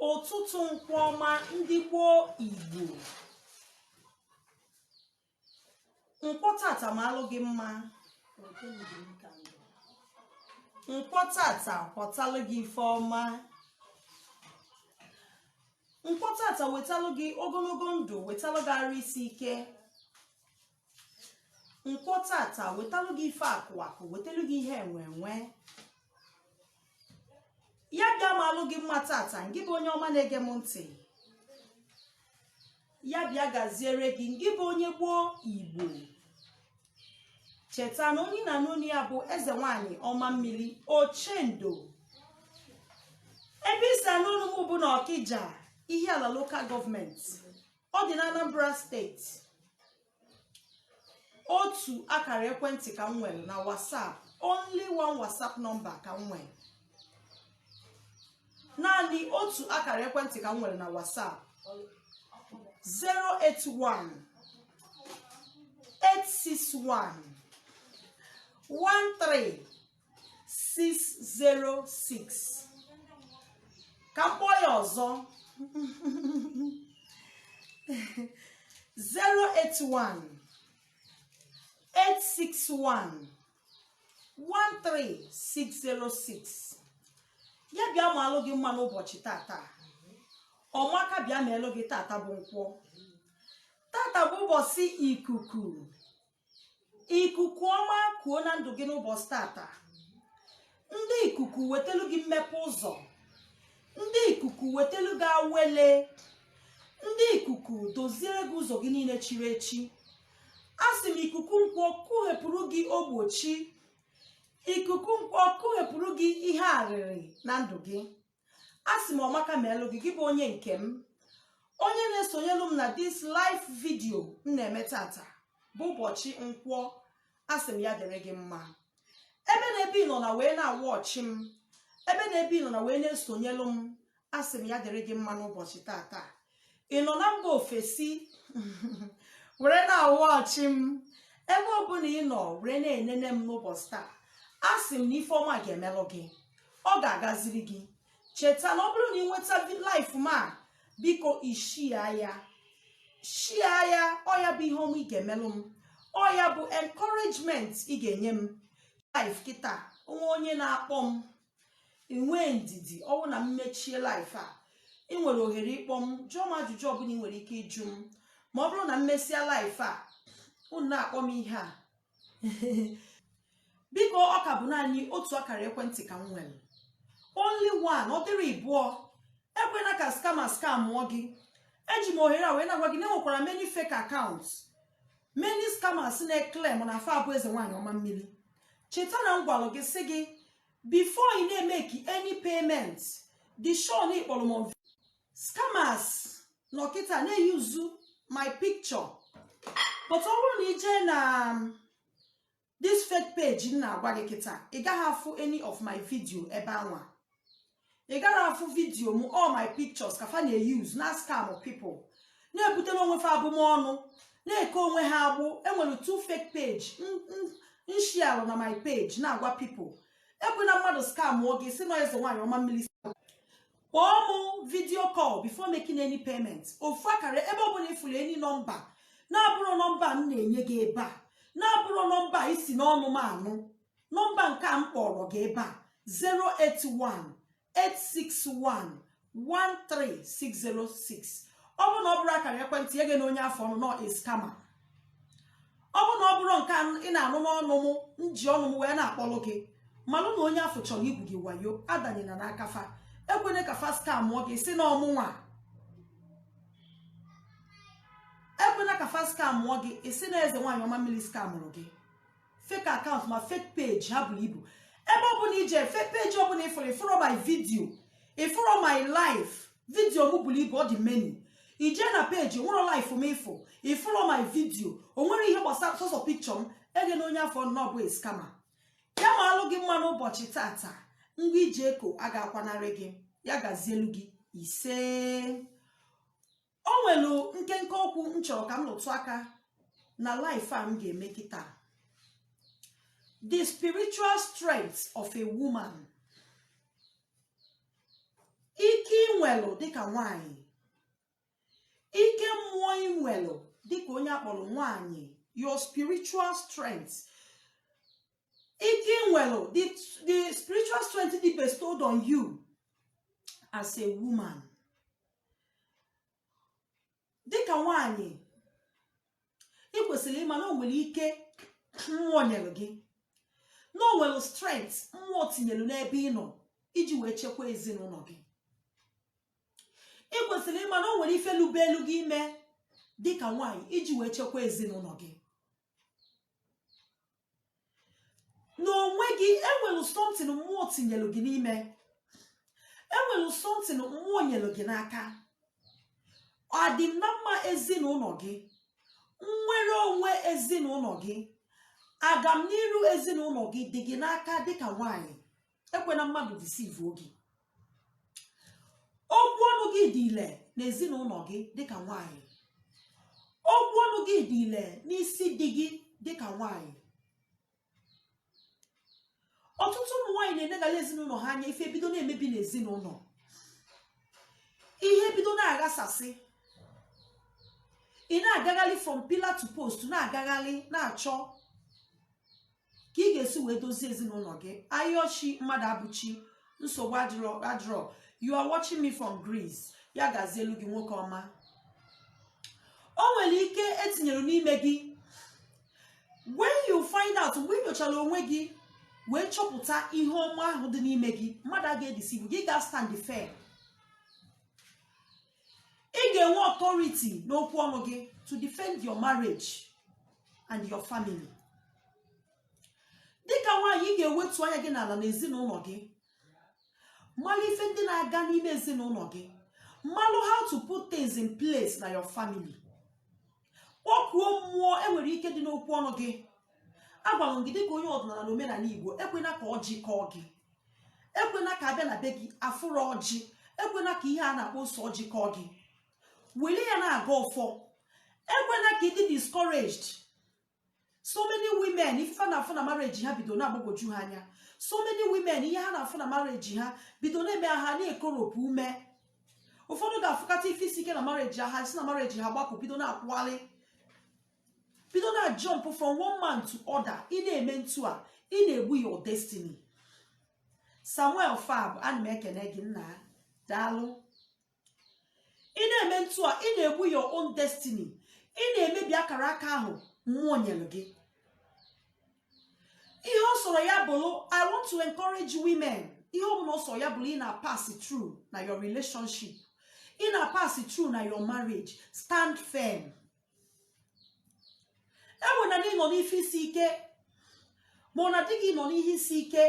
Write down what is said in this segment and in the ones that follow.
ụtụtụ nkwọ ọma ndị gboo igbo nkwọ tata maalụ gị mma nkwọ tata kwọtalụ gị ife ọma nkwọ tata wetalụ gị ogologo ndụ wetalụ gị arụ isi ike nkwọ tata wetalụ gị ife akụ akụ wetalụ gị ihe enwe enwe ya bịa maalụ gị mma tata ngị bụ onye ọma na-ege m ntị ya bịa gaziere gị ngị bụ onye gboo igbo cheta na onye ị na-anụ onu ya bụ eze nwanyị ọma mmiri ochendo ebe i si anụ onu m bụ na ọkija ihiala local government ọ dị na anambra steeti otu akara ekwentị ka m nwere na WhatsApp only one WhatsApp number ka m nwere naanị otu akara ekwentị ka m nwere na WhatsApp 081 861 13 606 ka m kpọọ ya ọzọ 081 861 13606 ya bịa maalụ gị mma n'ụbọchị tata ọmaka bịa meelụ gị tata bụ nkwọ tata bụ ụbọchị ikuku ikuku ọma kuo na ndụ gị n'ụbọchị tata ndị ikuku wetelu gị mmepe ụzọ ndị ikuku wetelu gị awele ndị ikuku doziere gị ụzọ gị niile chiri echi asị m ikuku nkwọ kuhepụrụ gị ogbochi ikuku nkwọ kuhepụrụ gị ihe arịrị na ndụ gị a sị m ọmaka meelu gị gị bụ onye nke m onye na-esonyelu m na this live video m na-eme tata bụ ụbọchị nkwọ a sị m ya dịrị gị mma ebe na ebe ị nọ na wee na-awatch m ebe na ebe ị nọ na wee na-esonyelu m a sị m ya dịrị gị mma n'ụbọchị tata ị nọ na mba ofesi were na-awatch m ebe ọbụla ị nọ were na-enene m n'ụbọchị taa a sị m na ife ọma ga-emelụ gị ọ ga-agaziri gị cheta na ọ bụrụ na ị nweta live m a biko ị share ya share ya ọ ya bụ ihe ọma ị ga-emelụ m ọ ya bụ encouragement ị ga-enye m live kịta o nwe onye na-akpọ m i nwee ndidi ọ wụ na m mechie live a ị nwere ohere ịkpọ m jụọ m ajụjụ ọbụla ị nwere ike ịjụ m ma ọ bụrụ na m mesịa live a unu na-akpọ m ihe a biko ọ ka bụ naanị otu akara ekwentị ka m nwere only one ọ dịrọ ịbụọ ekwena ka scammer scamụọ gị eji m ohere a wee na-agwa gị na enwekwara many fake accounts many scammers na-eclaim na fa abụ eze nwaanyị ọma mmiri cheta na m gwara gị sị gị before ị na-emake any payment dị sure na ị kpọrọ m scammers nọ kịta na-euse my picture but ọ bụrụ na ị jee na this fake page m na-agwa gị kịta ị gaghị afụ any of my video ebe anwa ị gaghị afụ video m all my pictures ka fa na-euse na-ascam people na-ebutere onwe fa abụmọnụ na-eke onwe ha agbụ e nwere two fake page m sharelụ na my page na-agwa people ekwena mmadụ scamụọ gị sị na ọ eze nwaanyị ọma mmiri kpọọ mụ video call before making any payment ofu akara ebe ọ bụla ị fụrụ any nọmba na-abụrọ nọmba m na-enye gị ebe a na-abụrọ nọmba i si n'ọnụ m anụ nọmba nke a m kpọrọ gị ebe a 081-861-13606 ọ bụrụ na ọ bụrọ akara ekwentị a egena onye afụ ọnụ na ọ scammer ọ bụrụ na ọ bụrọ nke ị na-anụ n'ọnụ m m ji ọnụ m wee na-akpọlụ gị malụ na onye afụ chọrọ igwu gị wayo adanyela n'aka fa ekwena ka fa scamụọ gị sị na ọ mụnwa ekwena ka fa scamụọ gị ị sị na eze nwaanyị ọma mmiri scamụrụ gị fake account ma fake page ha buru ibu ebe ọbụla i je fake page ọbụla ị fụrụ ị fụrọ my video ị fụrọ my live video m buru ibu ọ dị many i jee na page nwerọ live m ị fụ ị fụrọ my video o nwere ihe gbasara sọsọ picture m egena onye afụ ọnụ na ọ bụ scammer ya maalụ gị mma n'ụbọchị taata ngwa i ji eko agaghị akwanarị gị ya gazielu gị isee o nwere nkenke okwu m chọrọ ka m rụtụ aka na live a m ga-eme kịta the spiritual strength of a woman ike i nwelụ dịka nwanyị ike mmụọ i nwelụ dịka onye a kpọrọ nwanyị your spiritual strength ike i nwere the the spiritual strength dị bestowed on you as a woman dịka nwanyị ị kwesịrị ịma na o nwere ike mmụọ nyere gị na o nwere strength mmụọ tinyere n'ebe ị nọ iji wee chekwa ezinụlọ gị ị kwesịrị ịma na o nwere ife lubeelu gị ime dịka nwaanyị iji wee chekwa ezinụlọ gị n'onwe gị enwere something mmụọ tinyere gị n'ime enwere something mmụọ nyere gị n'aka ọdịm na mma ezinụlọ gị nnwere onwe ezinụlọ gị agamniru ezinụlọ gị dị gị n'aka dịka nwanyị ekwena mmadụ deceive gị okwu ọnụ gị dị ile n'ezinụlọ gị dịka nwanyị okwu ọnụ gị dị ile n'isi di gị dịka nwanyị ọtụtụ ụmụ nwaanyị na-enegala ezinụlọ ha anya ife bido na-emebi n'ezinụlọ ihe bido na-aghasasị ị na-agagharị from pillar to post na-agagharị na-achọ ka ị ga-esi wee dozie ezinụlọ gị ayọchi mmadụabụchi nsogbu adịrọ you are watching me from Greece ya gazielu gị nwoke ọma o nwere ike etinyere n'ime gị when you find out mgbe ị nyochara onwe gị wee chọpụta ihe ọma ahụ dị n'ime gị mmadụ a ga-edeceive gị ị ga-stand firm ị ga-enwe authority n'okwu ọnụ gị to defend your marriage and your family dịka nwaanyị ị ga-ewetu anya gị n'ala n'ezinụlọ gị malụ ife ndị na-aga n'ime ezinụlọ gị malụ how to put things in place na your family kpọkuo mmụọ enwere ike dị n'okwu ọnụ gị agwara m gị dịka onye ọdịnala na omenala igbo ekwena ka ọjị kọọ gị ekwena ka a bịa na be gị afụrọ ọjị ekwena ka ihe a na-akpọ ose ọjị kọọ gị wele ya na-agọ ọfọ ekwena ka ị dị discouraged so many women ife ha na-afụ na marriage ha bido na-agbagwoju ha anya so many women ihe ha na-afụ na marriage ha bido na-eme ha na-ekoropụ ume ụfọdụ ga-afụkata ife isi ike na marriage ha si na marriage ha gbapụ bido na-akwụgharị bido na-jump from one man to other ị na-eme ntu a ị na-egbu your destiny samuel fab ana m ekene gị nna daalụ ị na-eme ntu a ị na-egbu your own destiny ị na-emebi akara aka ahụ mmụọ nyere gị ihe ọ sọrọ ya bụrụ i want to encourage women ihe ọbụla ọ sọrọ ya bụrụ ị na-pass through na your relationship ị na-pass through na your marriage stand firm enwe na gị nọ n'ife isi ike ma ọ na di gị nọ n'ihe isi ike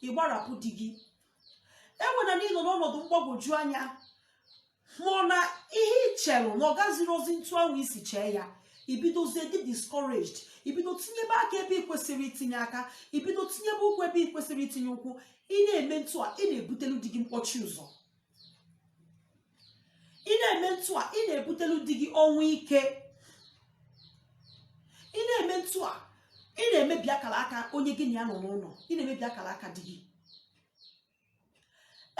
ị gbarapụ di gị enwe na gị nọ n'ọnọdụ mgbagwoju anya ma ọ na ihe ị chere na ọ gazirọzi ntụ ahụ i si chee ya i bidozie dị discouraged i bido tinyebe aka ebe ị kwesịghị itinye aka i bido tinyebe ụkwụ ebe ị kwesịghị itinye ụkwụ ị na-eme ntụ a ị na-ebutelu di gị mkpọchi ụzọ ị na-eme ntụ a ị na-ebutelu di gị ọnwụ ike ị na-eme ntụ a ị na-emebi akara aka onye gị na ya nọ n'ụlọ ị na-emebi akara aka di gị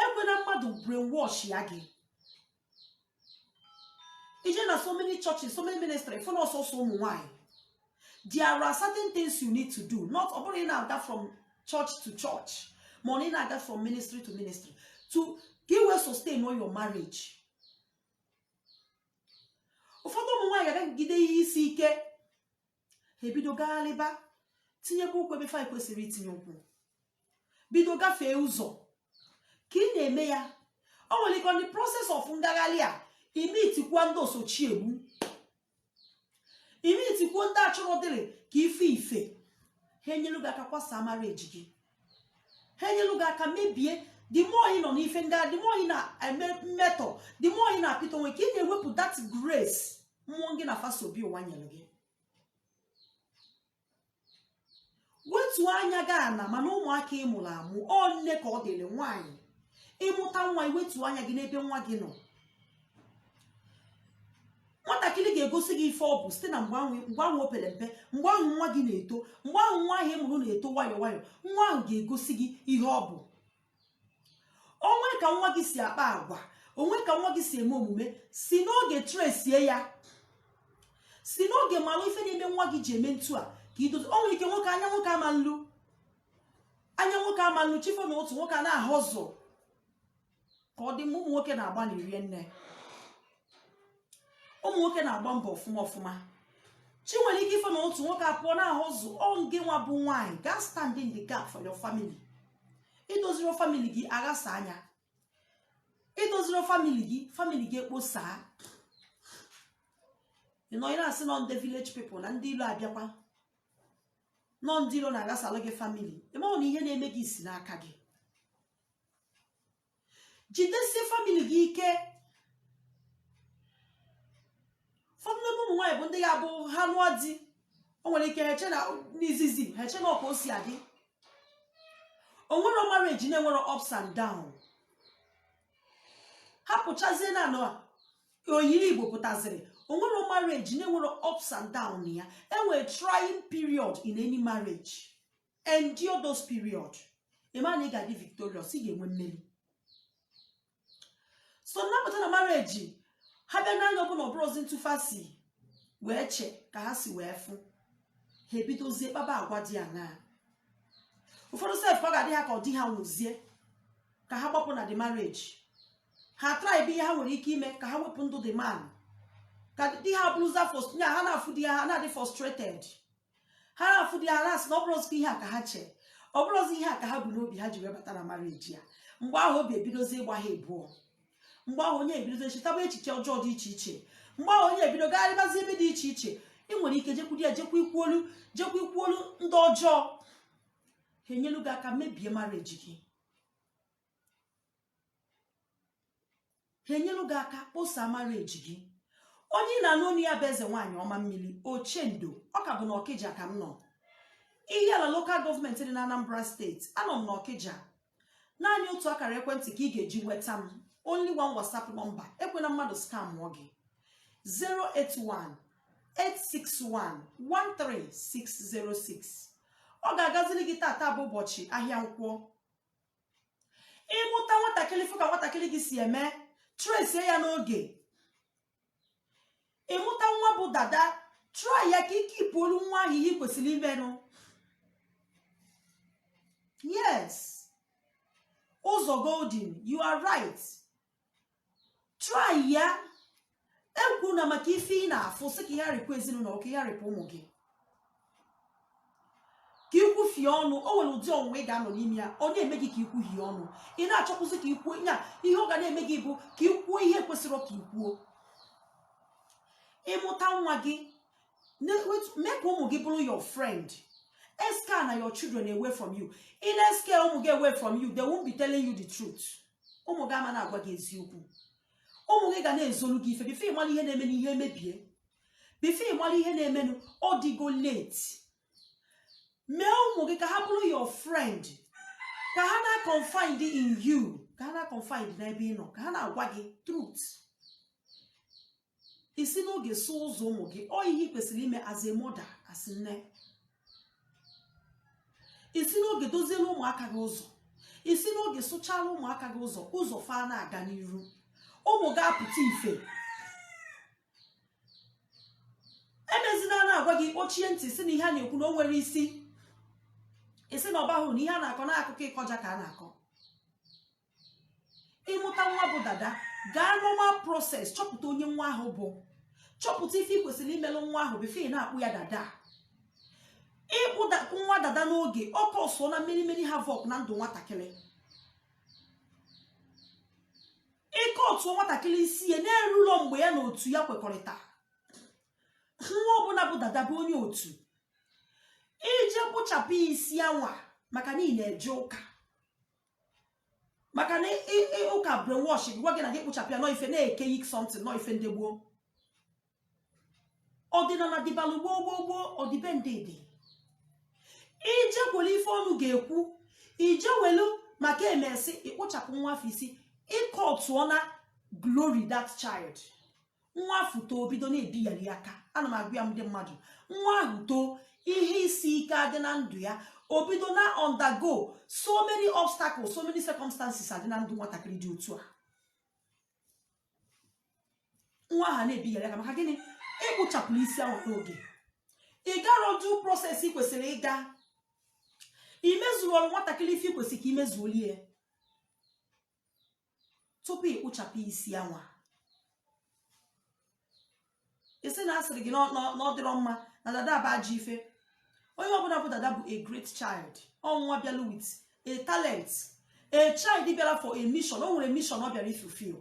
ekwena mmadụ brainwashịa gị ị jee na so many churches so many ministry fụ na ọ sọsọ ụmụ nwaanyị there are certain things you need to do not ọ bụrọ ị na-aga from church to church ma ọ na ị na-aga from ministry to ministry to ka i wee sustainụọ your marriage ụfọdụ ụmụ nwaanyị agagide ihe isi ike ha ebido gagharịba tinyekwa ụkwụ ebe fa kwesịrị itinye ụkwụ bido gafee ụzọ ka ị na-eme ya o nwere ike on the process of ngagharị a i mitikwa ndị osochi egbu i mitikwuo ndị achọrọ dịrị ka ife ife ha enyelu gị aka kwasaa marriage gị ha enyelu gị aka mebie the more ị nọ n'ife ndị a the more ị na-emetọ the more ị na-apịtọ onwe ka ị na-ewepụ that grace mmụọ gị na fa so bịa ụwa nyere gị wetuo anya gị ana mana ụmụaka ị mụrụ amụ ọ nne ka ọ dịrị nwaanyị ị mụta nwa i wetuo anya gị n'ebe nwa gị nọ nwatakịrị ga-egosi gị ife ọ bụ site na mgbe ahụ o pere mpe mgbe ahụ nwa gị na-eto mgbe ahụ nwa ahụ ị mụrụ na-eto nwayọ nwayọ nwa ahụ ga-egosi gị ihe ọ bụ o nwe ka nwa gị si akpa agwa o nwe ka nwa gị si eme omume si n'oge tresie ya si n'oge malụ ife na-eme nwa gị ji eme ntu a ka i dozi o nwere ike nwoke anya nwoke ama nlu anya nwoke ama nlu chi fo n'ụtụtụ nwoke a na-ahustle ka ọ dị mma ụmụ nwoke na-agbanị rie nne ụmụ nwoke na-agba mbọ ọfụma ọfụma chi nwere ike ifo n'ụtụtụ nwoke apụọ na-ahustle ọ ngị nwa bụ nwaanyị ga-astand in the gap for your family i doziro famili gị aghasa anya i doziro famili gị famili gị ekposaa ị nọ ị na-asị na ọ ndị village people na ndị ilo abịakwa na ọ ndị ilo na-aghasalụ gị famili ị mahụ na ihe na-eme gị si n'aka gị jidesie famili gị ike ụfọdụ n'ime ụmụ nwaanyị bụ ndị ya-abụ ha lụọ di o nwere ike ha eche na n'izizi ha eche na ọ ka o si adị o nwerọ marriage na-enwerọ ups and down ha pụchazie na anọ oyiri igbo pụtaziri o nwerọ marriage na-enwerọ ups and down ya e nwere trying period in any marriage endure those period ịma na ị ga-adị victorious ị ga-enwe mmeri so nnapụta na marriage ha bịa n'anya ọbụla ọ bụrọzi etu fa si wee chee ka ha si wee fụ ha ebidozie kpaba agwa dị aṅaa ụfọdụ sef ọ ga-adị ha ka ọ di ha nwụzie ka ha gbapụ na the marriage ha traịba ihe ha nwere ike ime ka ha wepụ ndụ the man ka di ha bụrụza nya ha na-afụ di ha ha na-adị frustrated ha na-afụ di ha na-asị na ọ bụrọzikwa ihe a ka ha chee ọ bụrọzi ihe a ka ha bu n'obi ha ji wee bata na marriage a mgbe ahụ obi ebidozi ịgba ha ebụọ mgbe ahụ onye ebidozi chetaba echiche ọjọọ dị iche iche mgbe ahụ onye ebido gagharịbazi ebe dị iche iche ị nwere ike jekwudi ya jekwa ikwuolu ndị ọjọọ ha enyelu gị aka mebie marriage gị ha enyelu gị aka kposa marriage gị onye ị na-anụ onu ya bụ eze nwaanyị ọma mmiri ochendo ọ ka bụ na ọkịja ka m nọ ihiala lokal gọọmenti dị na anambra steeti anọ m na ọkịja naanị otu akara ekwentị ka ị ga-eji nweta m only one whatsapp number ekwena mmadụ skamụọ gị 081 861 13606 ọ ga-agazili gị tata bụ ụbọchị ahịa nkwọ ị mụta nwatakịrị fụ ka nwatakịrị gị si eme tresie ya n'oge ị mụta nwa bu dada traịa ka ike ipụ olu nwa ahụ ihe kwesịrị imenụ yes ụzọ golden you are right traịa ekwuna maka ife ị na-afụ sị ka ya rapụ ezinụlọ ka ya rapụ ụmụ gị ka i kwufie ọnụ o nwere ụdị ọnwụnwa ị ga-anọ n'ime ya ọ na-eme gị ka i kwuhie ọnụ ị na-achọkwuzi ka i kwuo ya ihe ọ ga na-eme gị bụ ka i kwuo ihe kwesịrị ka i kwuo ị mụta nwa gị ne- wet- mee ka ụmụ gị bụrụ your friend escarena your children away from you ị na-escare ụmụ gị away from you they won't be telling you the truth ụmụ gị ama na-agwa gị eziokwu ụmụ gị ga na-ezolu gị ife before ị mara ihe na-emenụ ihe emebie before ị mara ihe na-emenụ ọ dịgo late mee ụmụ gị ka ha bụrụ your friend ka ha na-confide in you ka ha na-confide n'ebe ị nọ ka ha na-agwa gị truth i si n'oge sụọ ụzọ ụmụ gị ọ ihe i kwesịrị ime as a mother as nne i si n'oge doziela ụmụaka gị ụzọ i si n'oge sụchala ụmụaka gị ụzọ ụzọ fa na-aga n'iru ụmụ gị apụta ife emezina a na-agwa gị kpọchie ntị sị na ihe a na-ekwu na o nwerọ isi ị sị na ọ bahụ uru na ihe a na-akọ na akụkọ ịkọja ka a na-akọ ịmụta nwa bụ dada gaa normal process chọpụta onye nwa ahụ bụ chọpụta ife ị kwesịrị imelụ nwa ahụ before ị na-akpụ ya dada ịkpụ nwa dada n'oge ọ kọsụọ na many many havoc na ndụ nwatakịrị iketuo nwatakịrị isi ya na-erurọ mgbe ya na otu ya kwekọrịta nwa ọbụla bụ dada bụ onye otu ije kpụchapụ isi anwa maka na ị na-eje ụka maka na ụka brainwash gwa gị na gị kpụchapụ ya n'ọ ife na archaic something n'ọ ife ndị gboo ọdịnala dịbalụ gboo gboo gboo ọdịbendị dị ije kwere ife ọnụ ga-ekwu ije welu maka emesi ị kpụchapụ nwa afụ isi ị kọtụọ na glory that child nwa afụ too o bido na-ebighari ya aka ana m agwa ya ndị mmadụ nwa ahụ too ihe isi ike adị na ndụ ya o bido na undergo so many obstacles so many circumstances adị na ndụ nwatakịrị dị otu a nwa ahụ na-ebighari aka maka gịnị ị kpụchapụrụ isi ahụ n'oge ị garọ due process ị kwesịrị ịga imezuoro nwatakịrị ife ị kwesịrị ka imezuolie tupu ị kpụchapụ isi anwa ị sị na asịrị gị n'ọ dịrọ mma na dada bụ ajọ ife onye ọbụla bụ dada bụ a great child ọ nwa bịala with a talent a child bịara for a mission o nwere mission ọ bịara ifulfill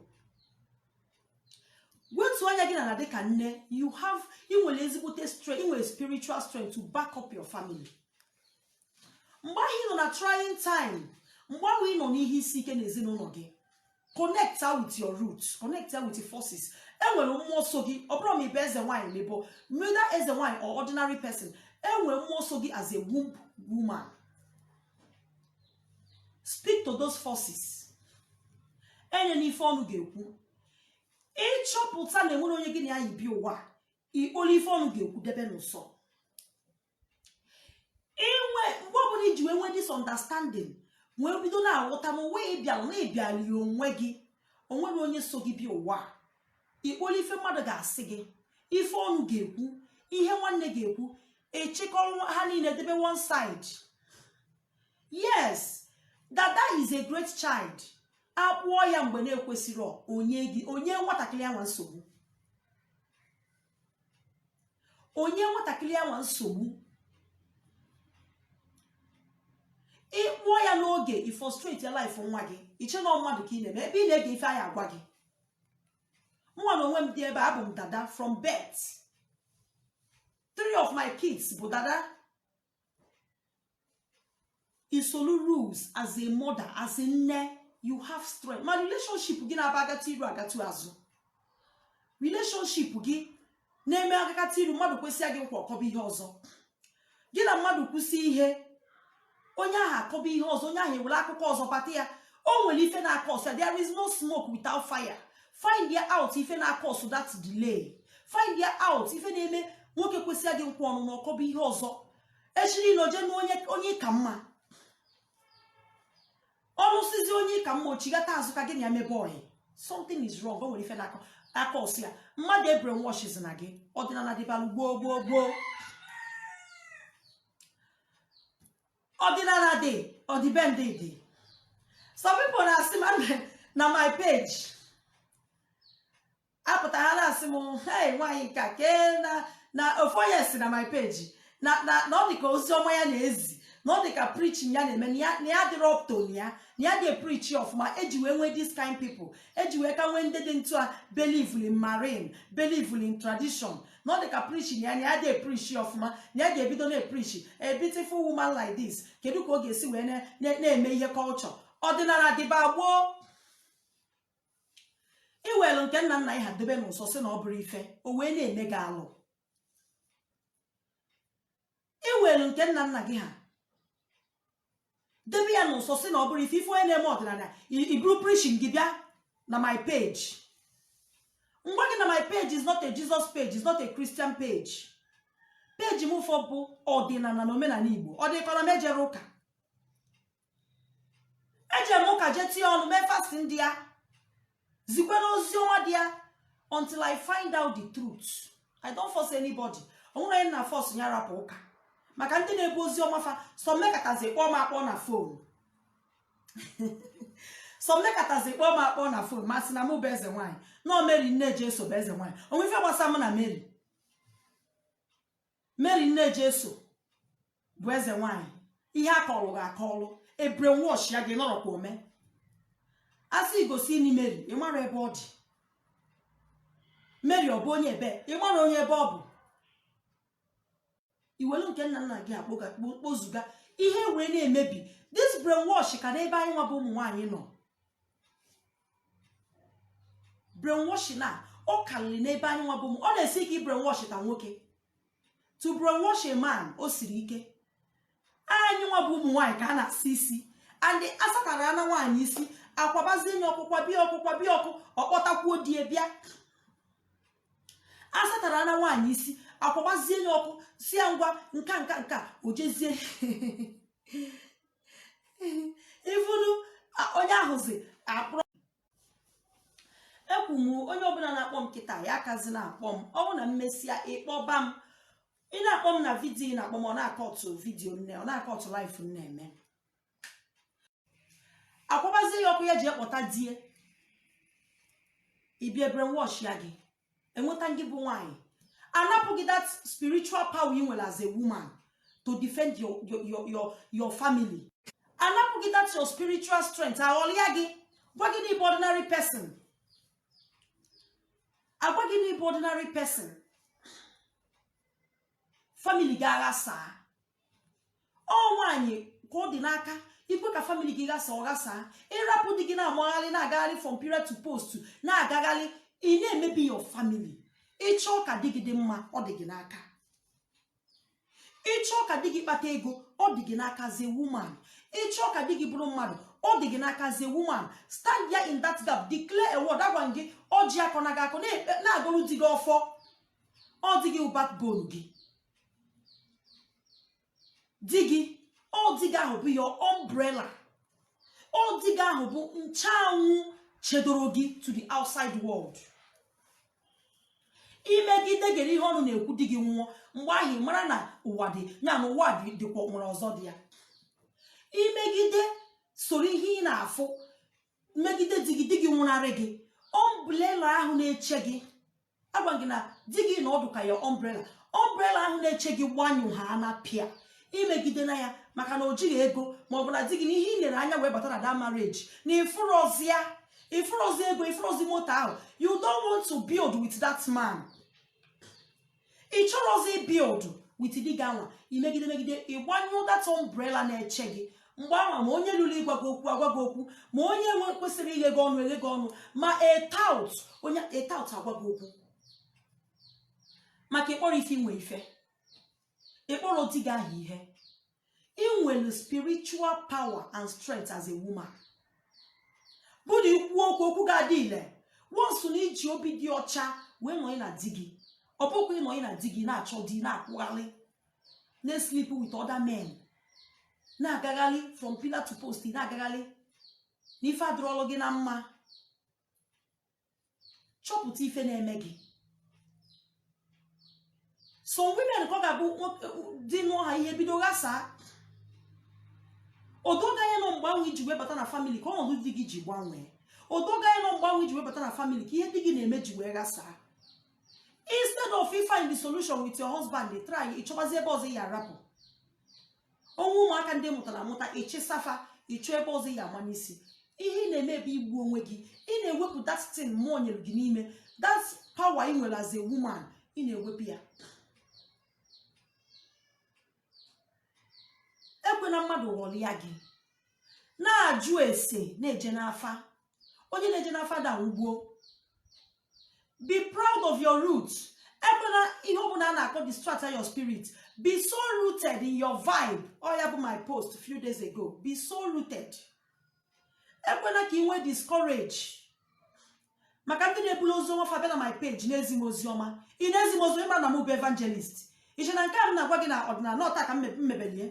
wetu anya gị n'ana dịka nne you have ị nwere ezigbote strength ị nwere spiritual strength to back up your family mgbe ahụ ị nọ na trying time mgbe ahụ ị nọ n'ihe isi ike n'ezinụlọ gị connectia with your root connectia with your forces enwere mmụọ so gị ọ bụrụ ma ị bụ eze nwaanyị ma ị bụ whether eze nwaanyị or ordinary person enwere mmụọ so gị as a womb woman speak to those forces enena ife ọnụ ga-ekwu ị chọpụta na enwere onye gị na ya yi bịa ụwa ikpolu ife ọnụ ga-ekwu debe n'ụsọ inwe mgbe ọbụla iji wee nwee this understanding wee bido na-aghọta na ụwa ị bịala na ị bịala ya onwe gị o nwere onye so gị bịa ụwa ikpolu ife mmadụ ga-asị gị ife ọnụ ga-ekwu ihe nwanne ga-ekwu ị chịkọrọ ha niile debe one side yes dada is a great child akpụọ ya mgbe na-ekwesịrọ o nye nwatakịrị anwa nsogbu o nye nwatakịrị anwa nsogbu ị kpụọ ya n'oge ị frustratia life nwa gị i che na ọ mmadụ ka ị na-eme ebe ị na-ege ife a ya-agwa gị mụwa na onwe m dị ebe abụ m dada from birth three of my kids bụ dada i solu rules as a mother as a nne you have strength ma relationship gị na-aba agata iru agata azụ relationship gị na-eme agakata iru mmadụ kwesịa gị nkwa ọ kọba ihe ọzọ gị na mmadụ kwusịa ihe onye ahụ akọba ihe ọzọ onye ahụ ewere akụkọ ọzọ bata ya o nwere ife na-acause ya there is no smoke without fire find ya out ife na-acause that delay find ya out ife na-eme nwoke kwesịa gị nkwa ọnụnụ ọ kọba ihe ọzọ echiri na o je nụọ onye ka mma ọ nụsịzị onye ka mma o chighata azụ ka gị na ya mebe oyi something is wrong o nwere ife na-acause ya mmadụ ebrainwashzina gị ọdịnala dịbalụ gboo gboo gboo ọdịnala dị ọdịbendị dị some people na-asị m na my page apụta ha na-asị m hey nwaanyị nka kee na na ofu onye si na my page na na na ọ dịka ozi ọma ya na-ezi na ọ dịka preaching ya na-eme na ya- na ya dịrọ up to na ya na ya adị epreachi ọfụma eji wee nwee this kind people eji wee ka nwee ndị dị ntu a believe in marine believe in tradition na ọ dị ka preaching ya na ya adị epreachi ọfụma na ya ga-ebido na-epreachi a beautiful woman like this kedu ka ọ ga-esi wee na- na- na-eme ihe culture ọdịnala dịba gboo i welu nke nna nna gị ha dobe n'ụsọ sị na ọ bụrọ ife o wee na-eme gị alụ i welu nke nna nna gị ha debe ya n'ụsọ sị na ọ bụrọ ife ife onye na-eme ọdịnala i buru preaching gị bịa na my page m gwa gị na my page is not a Jesus page is not a Christian page page mụ afụ bụ ọdịnala na omenala Igbo ọ dịkọ na m ejerọ ụka eje m ụka jee tinye ọnụ mee fasting there zikwenụ ozi ọma there until i find out the truth i don't force anybody o nwerọ onye m na-aforce ya rapụ ụka maka ndị na-ebu ozi ọma fa some mekatazị kpọọ m akpọ na phone some mekatazị kpọọ m akpọ na phone m asị na mụ bụ eze nwaanyị no mary nne jesu bụ eze nwaanyị o nwe ife gbasa m na mary mary nne jesu bụ eze nwanyị ihe a kọrọ gị akọrọ e brainwashia gị nọrọkwa ome a sị gị gosinụ mary ị mara ebe ọ dị mary ọ bụ onye ebe ị mara onye ebe ọ bụ i welu nke nna nna gị akpọga kpo- kpozuga ihe wee na-emebi this brainwash ka n'ebe anyị nwa bụ ụmụ nwaanyị nọ brainwash na ọ karịrị n'ebe anyị nwa bụ ụmụ ọ na-esi ike ịbrainwashta nwoke to brainwash a man o siri ike anyị nwa bụ ụmụ nwaanyị ka a na-asa isi and asatara ana nwaanyị isi akwabazie nye ọkpụkwa bịa ọkpụkwa bịa ọkụ ọ kpọtakwuo di e bịa asatara ana nwaanyị isi akwabazie nye ọkụ sị ya ngwa nka nka nka o jezie ifunu onye ahụzi akpọrọ ekwu m onye ọbụla na-akpọ m kịta ya akazi na-akpọ m ọ bụ na m mesịa ị kpọba m ị na-akpọ m na vidiyo ị na-akpọ m ọ na-acut vidiyo m na ọ na-acut live m na-eme akwabazie ya ọkụ ya je kpọta di e bịa e brainwashịa gị e nweta gị bụ nwaanyị anapụ gị that spiritual power ị nwere as a woman to defend your your your your, your family anapụ gị that your spiritual strength aghọlịa gị gwa gị na ị bụ ordinary person agwa gị na ị bụ ordinary person family gị aghasaa ọ nwaanyị ka ọ dị n'aka ikwe ka family gị ghasa ọ ghasaa ị rapụ di gị na-amagharị na-agagharị from pillar to post na-agagharị ị na-emebi your family ị chọọ ka di gị dị mma ọ dị gị n'aka ị chọọ ka di gị kpata ego ọ dị gị n'aka as a woman ị chọọ ka di gị bụrụ mmadụ ọ dị gị n'aka as a woman stand there in that gap declare a word agwa gị ọjị akọ na gị akọ na-agọrọ di gị ọfọ ọ di gị backbone gị di gị ọ di gị ahụ bụ your umbrella ọ di gị ahụ bụ nche anwụ chedoro gị to the outside world i megide gere ihe ọnụ na-ekwu di gị nwụọ mgbe ahụ ị mara na ụwa dị ya na ụwa dị dịkwa nwere ọzọ dị ya i megide soro ihe ị na-afụ megide di gị di gị nwụnarị gị umbrella ahụ na-eche gị agwa gị na di gị na ọ dị ka your umbrella umbrella ahụ na-eche gị gbanyụ ha na pịa i megide na ya maka na o jighị ego ma ọ bụ na di gị na ihe ị lere anya wee bata na that marriage na ị fụrọzi ya ị fụrọzi ego ị fụrọzi moto ahụ you don't want to build with that man ị chọrọzi build with di gị anwa i megide megide ị gbanyụ that umbrella na-eche gị mgbe ahụ ma onye luru ịgwa gị okwu agwa gị okwu ma onye na-ekwesịghị ighe gị ọnụ eghe gị ọnụ ma a tout onye a tout agwa gị okwu maka ị kpọrọ ife i nwe ife ị kpọrọ di gị ahụ ihe i nwelu spiritual power and strength as a woman bụ na i kwuo okwu okwu ga-adị ile once na i ji obi dị ọcha wee nọị na di gị ọ bụkwa ị nọị na di gị na-achọ di na-akwụgharị na-esleep with other men na-agagharị from pillar to post na-agagharị na ife adịrọlụ gị na mma chọpụta ife na-eme gị some women ka ọ ga-abụ di nụọ ha ihe bido ghasaa o doo gị anya na ọ mgbe ahụ i ji wee bata na family ka ọnọdụ di gị ji gbanwee o doo gị anya na ọ mgbe ahụ i ji wee bata na family ka ihe di gị na-eme ji wee ghasaa instead of you find the solution with your husband dey try ịchọbazi ebe ọzọ ya arapụ onwe ụmụaka ndị ị mụtara amụta ị chịsa fa ịchọ ebe ọzọ ya ama n'isi ihe ị na-eme bụ igbu onwe gị ị na-ewepụ that thing mmụọ nyere gị n'ime that power ị nwere as a woman ị na-ewepụ ya ekwena mmadụ ghọrịa gị na-ajụ ese na-eje n'afa onye na-eje n'afa da ugbo be proud of your roots ekwena ihe ọbụla a na-akọ distract your spirit be so rooted in your vibe ọ ya bụ my post few days ago be so rooted ekwena ka ị nwee discourage maka ndị na-ebulu ozi ọma fa bịa na my page na-ezi m ozi ọma ị na-ezi m ozi ị ma na m bụ evangelist i che na nke a m na-agwa gị na ọdịnala ọ taa ka m mebelu ya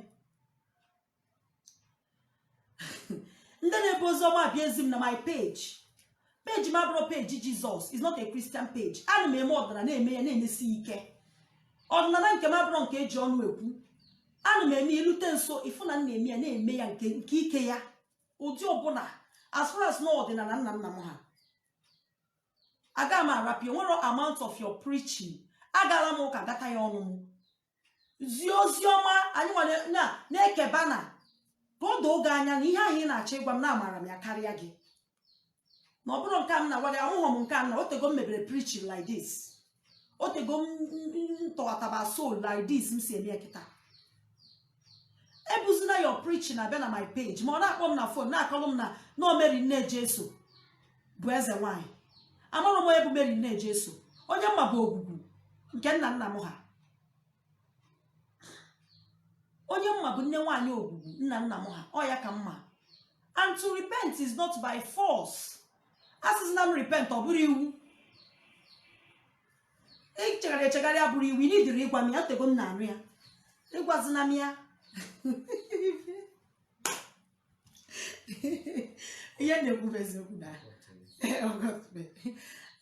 ndị na-ebu ozi ọma abịa ezi m na my page page m abụrọ page jizọs is not a christian page ana m eme ọdịnala na-eme ya na-emesi ike ọdịnala nke m abụrọ nke e ji ọnụ ekwu ana m eme ilute nso ị fụ na m na-eme ya na-eme ya nke ike ya ụdị ọbụla as far as na ọdịnala nna nna m ha aga m arapụ ya o nwerọ amount of your preaching agaala m ụka gata ya ọnụ m zie ozi ọma anyị nwere na na-ekeba na ka o doo gị anya na ihe ahụ ị na-achọ ịgwa m na amara m ya karịa gị na ọ bụrụ nke a m na-agwa gị ahụghọ m nke a na o tego m mebere preaching like this o tego m m- m- m tọghataba soul like this m si eme ya kịta ebuzina your preaching abịa na my page ma ọ na-akpọ m na phone na-akọlụ m na na ọ meri nne jesu bụ eze nwanyị amarọ m onye bụ meri nne jesu onye m ma bụ ogwugwu nke nna nna m ha onye m ma bụ nne nwaanyị ogwugwu nna nna m ha ọ ya ka m ma and to repent is not by force asịzina m repent ọ bụrọ iwu ichegharị echegharị abụrọ iwu ị needirọ ịgwa m ya o tego m na-anụ ya ị gwazina m ya ihe na-ekwu bụ eziokwu na ọgọtụbe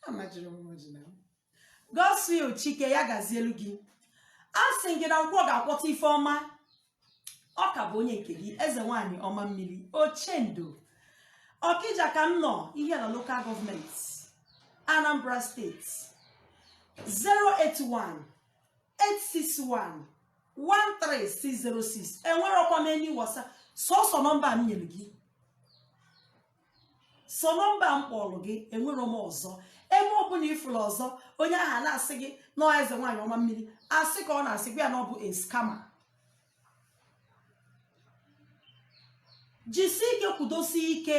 amajiri m oji na godswill chike ya gazielu gị a sị gị na nkwọ ga-akwọta ife ọma ọ ka bụ onye nke gị eze nwaanyị ọma mmiri ochendo ọkija ka m nọ ihiala local government anambra state 081 861 13606 enwerokwa m any whatsapp sọsọ nọmba a m nyere gị sọ nọmba a m kpọọrọ gị enwero m ọzọ ebe ọbụla ị fụrụ ọzọ onye ahụ na-asị gị na ọ eze nwaanyị ọma mmiri asị ka ọ na-asị gwa ya na ọ bụ a scammer jisi ike kwudosie ike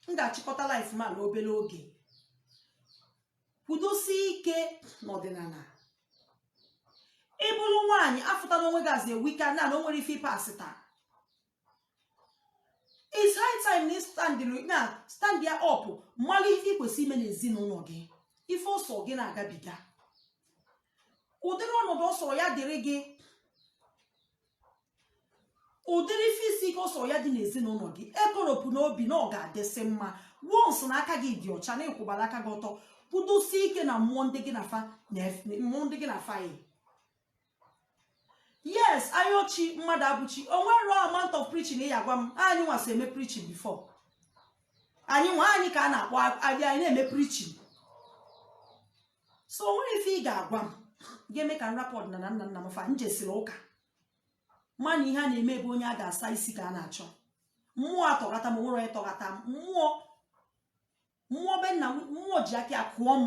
m ga-achịkọta live m a n'obere oge kwudosi ike n'ọdịnala ị bụrụ nwaanyị afụta n'onwe gị azị wika na na o nwere ife ịpasị taa it's high time na stand na stand ya up malụ ife ị kwesịrị ime n'ezinụlọ gị ife ọ sọ gị na-agabiga ụdịrị ọnọdụ ọ sọ ya dịrị gị ụdịrị ife isi ike ọ sọ ya dị n'ezinụlọ gị ekoropụna obi na ọ ga-adịsị mma once na aka gị dị ọcha na ị kwụbara aka gị ọtọ kwudosie ike na mmụọ ndị gị na fa yi yes ayọ chi mmadụ abụ chi o nwero amount of preaching ị ya-agwa m anyị nwa so eme preaching before anyị nwa anyị ka a na-akpọ anyị na-eme preaching so o nwero ife ị ga-agwa m ga-eme ka m rapụ ọdịnala nna nna m fa m jesiri ụka mana ihe a na-eme bụ onye a ga-asa isi ka a na-achọ mmụọ atọghata m o nwero onye tọghata m mmụọ mmụọ be nna m mmụọ ji aka ya kụọ m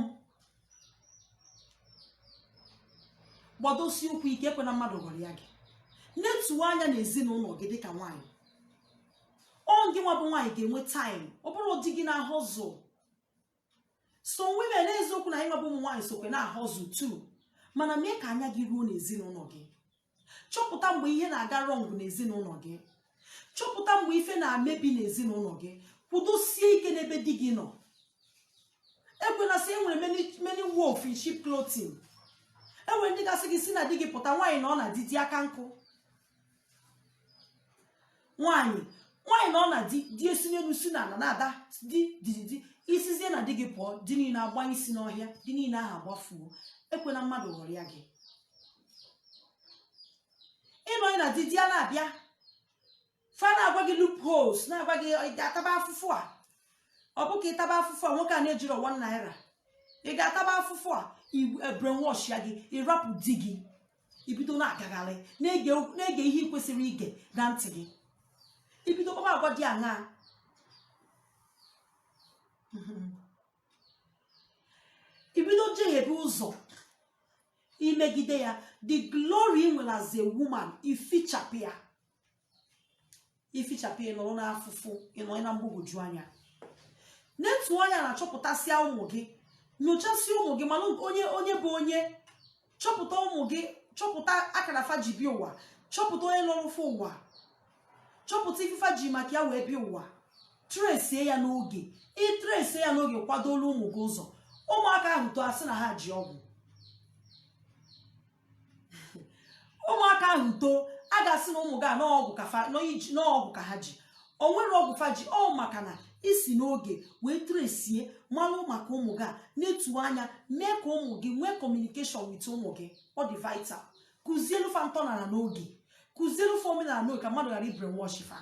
gbadosie ụkwụ ike ekwena mmadụ ghọrịa gị netuo anya na ezinụlọ gị dịka nwaanyị ọ gị nwa bụ nwaanyị ga-enwe time ọ bụrọ di gị na-ahustle so women n'eziokwu na anyị nwa bụ ụmụ nwaanyị sokwa na-ahustle too mana mee ka anya gị ruo n'ezinụlọ gị chọpụta mgbe ihe na-aga wrong n'ezinụlọ gị chọpụta mgbe ife na-amebi n'ezinụlọ gị kwudosie ike n'ebe di gị nọ ekwena sị enwere many many wolf in sheep clothing enwere ndị ga-asị gị si na di gị pụta nwaanyị nọ na di di aka nkụ nwaanyị nwaanyị nọ na di di esi n'elu si n'ala na-ada di di di di ị sizie na di gị pụọ di niile agbaa isi n'ọhịa di niile ahụ agbafuo ekwena mmadụ ghọrịa gị ị nọ na di di ana-abịa fa na-agwa gị loopholes na-agwa gị ị ga-ataba afụfụ a ọ bụ ka ị taba afụfụ a nwoke a na-ejiro one naira ị ga-ataba afụfụ a brainwash ya gị ị rapụ di gị i bido na-agagharị na-ege ihe i kwesịrọ ige na ntị gị i bido kpaba agwa dị aṅaa i bido jehebe ụzọ i megide ya the glory i nwere as a woman i fichapụ ya ifichapụ ịnọrọ n'afụfụ ịnọ na mgbagwoju anya netuo anya na chọpụtasịa ụmụ gị nyochasịa ụmụ gị mana onye bụ onye chọpụta ụmụ gị chọpụta akara fa ji bịa ụwa chọpụta onye lọrọ fa ụwa chọpụta ife fa ji maka ya wee bịa ụwa tresie ya n'oge i tresie ya n'oge kwadolụ ụmụ gị ụzọ ụmụaka ahụ too a sị na ha ji ọgwụ ụmụaka ahụ too a ga-asị na ụmụ gị a n'ọgwụ ka fa n'iji- na ọgwụ ka ha ji o nwerọ ọgwụ fa ji ọ maka na i si n'oge wee tresie malụ maka ụmụ gị a netu anya mee ka ụmụ gị nwee communication with ụmụ gị ọ dị vital kụzielu fa ntọnala n'oge kụzielu fa omenala n'oge ka mmadụ ghara ịbrainwash fa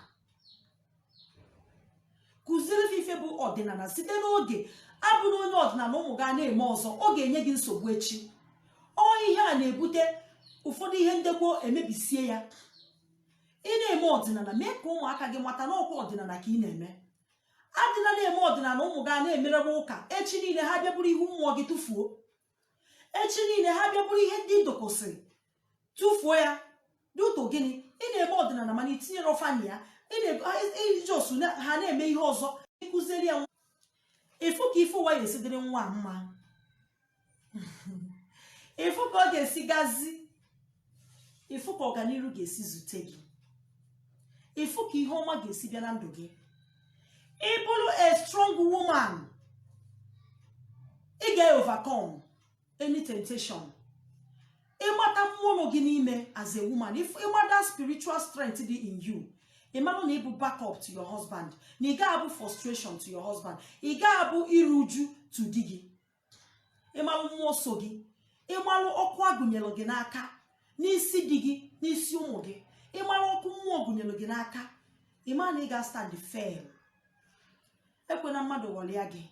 kụzielu fa ife bụ ọdịnala site n'oge abụrụ onye ọdịnala ụmụ gị a na-eme ọzọ ọ ga-enye gị nsogbu echi ọ ihe a na-ebute ụfọdụ ihe ndekwa emebisie ya ị na-eme ọdịnala mee ka ụmụaka gị mata na ọ kwa ọdịnala ka ị na-eme adịla na-eme ọdịnala ụmụ gị a na-emerebe ụka echi niile ha bịa buru ihu mmụọ gị tụfuo echi niile ha bịa buru ihe ndị ị dokọsịrị tụfuo ya due to gịnị ị na-eme ọdịnala mana i tinyerọ fa na ya ị na-ego- ha- ị- iji osu na- ha na-eme ihe ọzọ ị kụziri ya nwa ị fụ ka ife ụwa ya-esi dịrị nwa a mma ị fụ ka ọ ga-esi gazi ị fụ ka ọganihu ga-esi zute gị ị fụ ka ihe ọma ga-esi bịa na ndụ gị ị bụrụ a strong woman ị ga-overcome any temptation ị mata mmụọ gị n'ime as a woman ị mata spiritual strength dị in you ị mara na ị bụ backup to your husband na ị ga-abụ frustration to your husband ị ga-abụ iru uju to di gị ị malụ mmụọ so gị ị malụ ọkụ a gụnyelụ gị n'aka n'isi di gị n'isi ụmụ gị ị malụ ọkụ mmụọ gụnyelụ gị n'aka ị ma na ị ga-astand firm ekwena mmadụ ghọrịa gị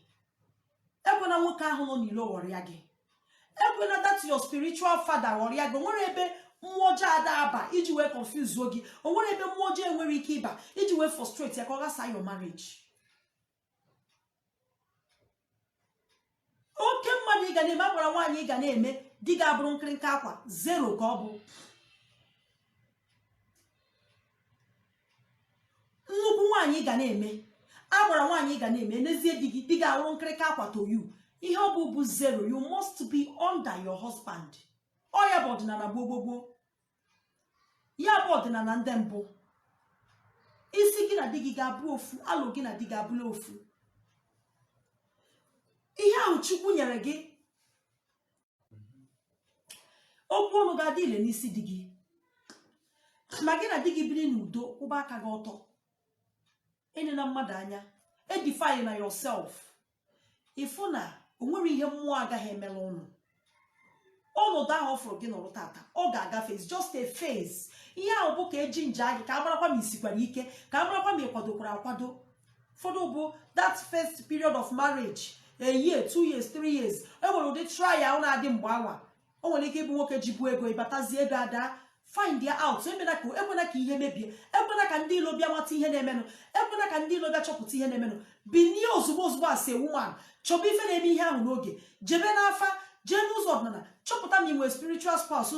ekwena nwoke ahụ nọ n'ilo ghọrịa gị ekwena that your spiritual father ghọrịa gị o nwerọ ebe mmụọ ọjọọ ada aba iji wee confuse gị o nwerọ ebe mmụọ ọjọọ enwerọ ike ịba iji wee frustrate ya ka ọ ghasa your marriage oke mmadụ ị ga na-eme agbara nwaanyị ị ga na-eme di gị abụrụ nkịrịnka akwa zero ka ọ bụ nnukwu nwaanyị ị ga na-eme agbara nwaanyị ị ga na-eme n'ezie di gị di gị abụrụ nkịrịnka akwa to you ihe ọ bụ bụ zero you must be under your husband ọ ya bụ ọdịnala gboo gboo gboo ya bụ ọdịnala ndị mbụ isi gị na di gị ga-abụ ofu alụ gị na di gị abụla ofu ihe ahụ chukwu nyere gị okwu ọnụ ga-adị ile n'isi di gị ma gị na di gị biri n'udo kwụba aka gị ọtọ enena mmadụ anya edify na yourself ịfụ na o nwere ihe mmụọ agaghị emela ụnụ ọnọdụ ahụ ọ fụrụ gị nọrọ tata ọ ga-agafe it's just a phase ihe ahụ bụ ka eji nje gị ka a marakwa ma i sikwara ike ka a marakwa ma ị kwadokwara akwado ụfọdụ bụ that first period of marriage a year two years three years e nwere ụdị trial na-adị mgbe anwa o nwere ike ịbụ nwoke jibu ego ị batazi ego ada find ya out ekwena ka ihe mebie ekwena ka ndị ilo bịa mata ihe na-emenụ ekwena ka ndị ilo bịa chọpụta ihe na-emenụ binie ozugbo ozugbo as a woman chọba ife na-eme ihe ahụ n'oge jebe n'afa jee n'ụzọ ọdịnala chọpụta ma ị nwere spiritual spouse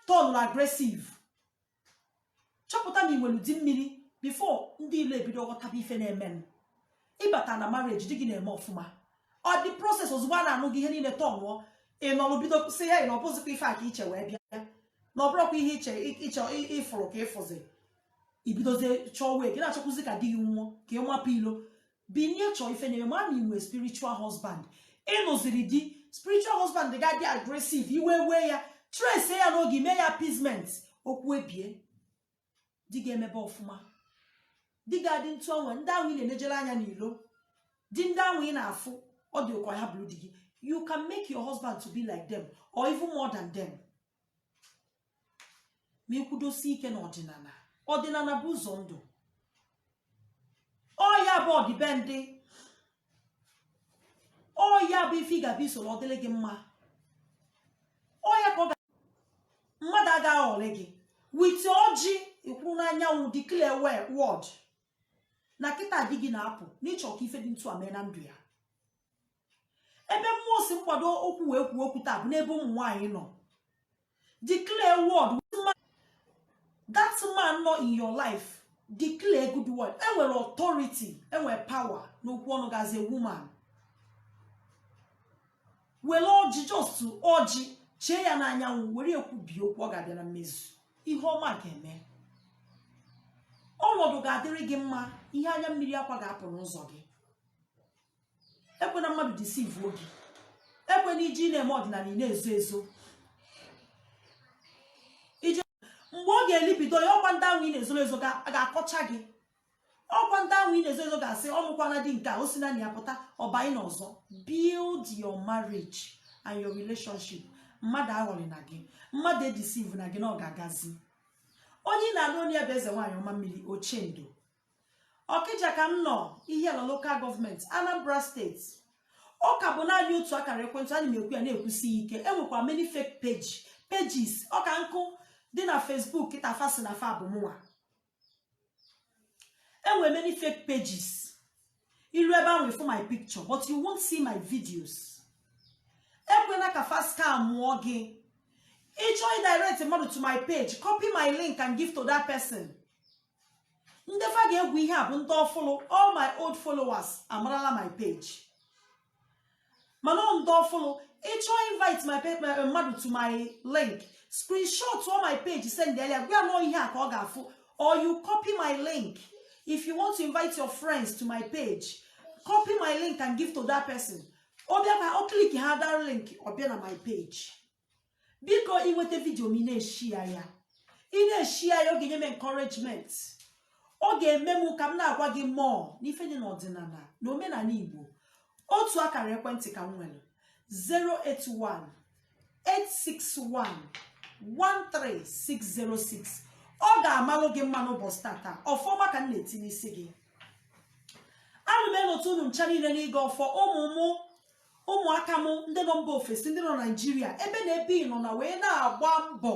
turnụrụ aggressive chọpụta na i nwelu di mmiri before ndị ilo ebido ghọtaba ife na-emenụ ị bata na marriage di gị na-eme ọfụma on the process ozugbo a na-anụ gị ihe niile turnụọ ị nọrụ bido sị ya ị na ọ bụzikwa ife a ka i che wee bịa na ọ bụrọkwa ihe ị chọ ịfụrụ ka ị fụzi i bidozie chọọ wee gị na-achọkwụzi ka di gị nwụọ ka ị mapụ ilo binie chọọ ife na-eme ma ị nwee spiritual husband ị nụziri di spiritual husband ga-adị aggressive iwe wee ya trace ya n'oge i mee ya appeasement okwu ebie di ga-emebe ọfụma di ga-adị ntu ọnwa ndị ahụ ị na-enejere anya n'ilo di ndị ahụ ị na-afụ ọ dị gị ka ya bụrụ di gị you can make your husband to be like them or even more than them ma ị kwụdosi ike na ọdịnala ọdịnala bụ ụzọ ndụ ọ ya bụ ọdịbendị ọ ya bụ ife ị ga-abụ i soro ọ dịrị gị mma ọ ya ka mmadụ agaghị aghọrị gị wete ọjị ị kwụrụ n'anyanwụ declare word na kịta di gị na-apụ na ị chọ ka ife dị ntu a mee na ndụ ya ebe mmụọ sị m gbado ụkwụ wee kwuo okwu taa bụ n'ebe ụmụ nwaanyị nọ declare word that man nọ in your life declare good word enwere authority enwere power n'okwu ọnụ gị as a woman were ọjị just ọjị chee ya n'anyanwụ were kwubie okwu ọ ga-abịa na mmezu ihe ọma ga-eme ọnọdụ ga-adịrị gị mma ihe anya mmiri akwa ga-apụ n'ụzọ gị ekwena mmadụ deceive o gị ekwena iji na-eme ọdịnala ị na-ezo ezo mgbe ọ ga-elibido ya ọkwa ndị ahụ ị na-ezoro ezo ga-akọcha gị ọkwa ndị ahụ ị na-ezo ezo ga-asị ọ nụkwana di nke a o si na ya pụta ọ banye n'ọzọ build your marriage and your relationship mmadụ aghọrịna gị mmadụ edeceivena gị na ọ ga-agazi onye ị na-anụ onu ya bụ eze nwaanyị ọma mmiri ochendo ọkịja ka m nọ ihiala local government anambra state ọ ka bụ naanị otu akara ekwentị ana m ekwu ya na-ekwusi ike enwekwa many fake page pages ọ ka nkụ dị na facebook kịta fa sị na fa bụ mụnwa enwe many fake pages i ru ebe ahụ ị fụ my picture but you won't see my videos ekwena ka fa scam ọ gị ị chọọ ịdirect mmadụ to my page copy my link and give to that person ndị fa ga-egwu ihe a bụ ndị ọfụlụ all my old followers amarala my page mana ọ ndị ọfụlụ ị chọọ invite my pe- my- mmadụ to my link screenshot ọ my page sendelu ya gwa ya na ọ ihe a ka ọ ga-afụ or you copy my link if you want to invite your friends to my page copy my link and give to that person ọ bịa ka ọ click a that link ọ bịa na my page biko i nweta video m ị na-eshare ya ị na-eshare ya ọ ga-enye m encouragement ọ ga-eme m ka m na-agwa gị more n'ife dị n'ọdịnala na omenala igbo otu akara ekwentị ka m nwere 081 861 13606 ọ ga-amalụ gị mma n'ụbọchị tata ọfọ ọma ka m na-eti n'isi gị ana m enota unu ncha niile n'ịgọ ọfọ ụmụ mụ ụmụaka m ndị nọ mba ofesi ndị nọ naijiria ebe na ebe ị nọ na wee na-agba mbọ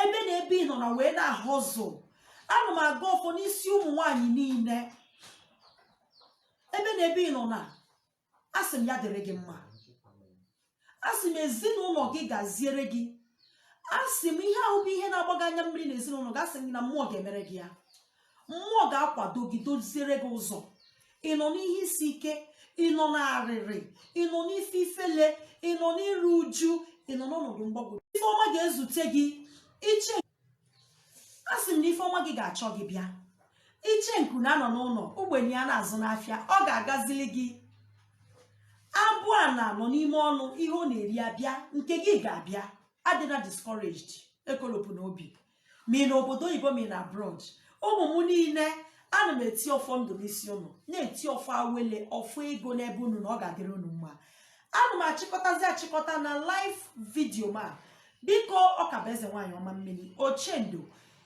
ebe na ebe ị nọ na wee na-ahustle ana m agọ ọfọ n'isi ụmụ nwaanyị niile ebe na ebe ị nọ na asị m ya dịrị gị mma asị m ezinụlọ gị gaziere gị asị m ihe ahụ bụ ihe na-agba gị anya mmiri na ezinụlọ gị asị m na mmụọ ga-emere gị ya mmụọ ga-akwado gị doziere gị ụzọ ị nọ n'ihe isi ike ị nọ n'arịrị ị nọ n'ife ifele ị nọ n'iru uju ị nọ n'ọnọdụ mgbagwoju ife ọma ga-ezute gị isee asị m na ife ọma gị ga-achọ gị bịa icheoku na-anọ n'ụlọ ugbene ya na-azụ n'afịa ọ ga-agazili gị abụana nọ n'ime ọnụ ihe ọ na-eri abịa nke gị ga-abịa adịna discouraged ekolopụna obi ma ị nọ obodo oyibo ma ị nọ abroad ụmụ m niile ana m eti ọfọ ndụ n'isi ụnụ na-eti ọfọ awele ọfọ ego n'ebe unu na ọ ga-adịrị unu mma ana m achịkọtazi achịkọta na live video ma biko ọ ka bụ eze nwaanyị ọma mmiri ochendo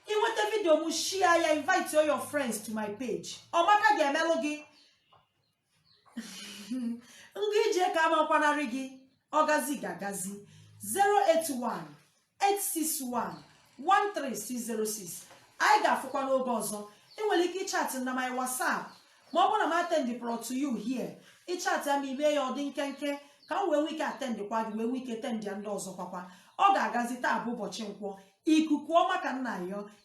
i nweta video m share ya invite all your friends to my page ọmaka ga-emelụ gị ngwa ije ka amakwanarị gị ọgazi ga-agazi 081 861 13606 anyị ga-afụkwa n'oge ọzọ ị nwere ike ịchatị m na my WhatsApp ma ọ bụrụ na m atendịberọ to you here ị chatịa m i mee ya ọ dị nkenke ka m wee nwee ike atendịkwa gị wee nwee ike atendịa ndị ọzọ kwakwa ọ ga-agazi taa bụ ụbọchị nkwọ ikuku ọma ka m na-ayọ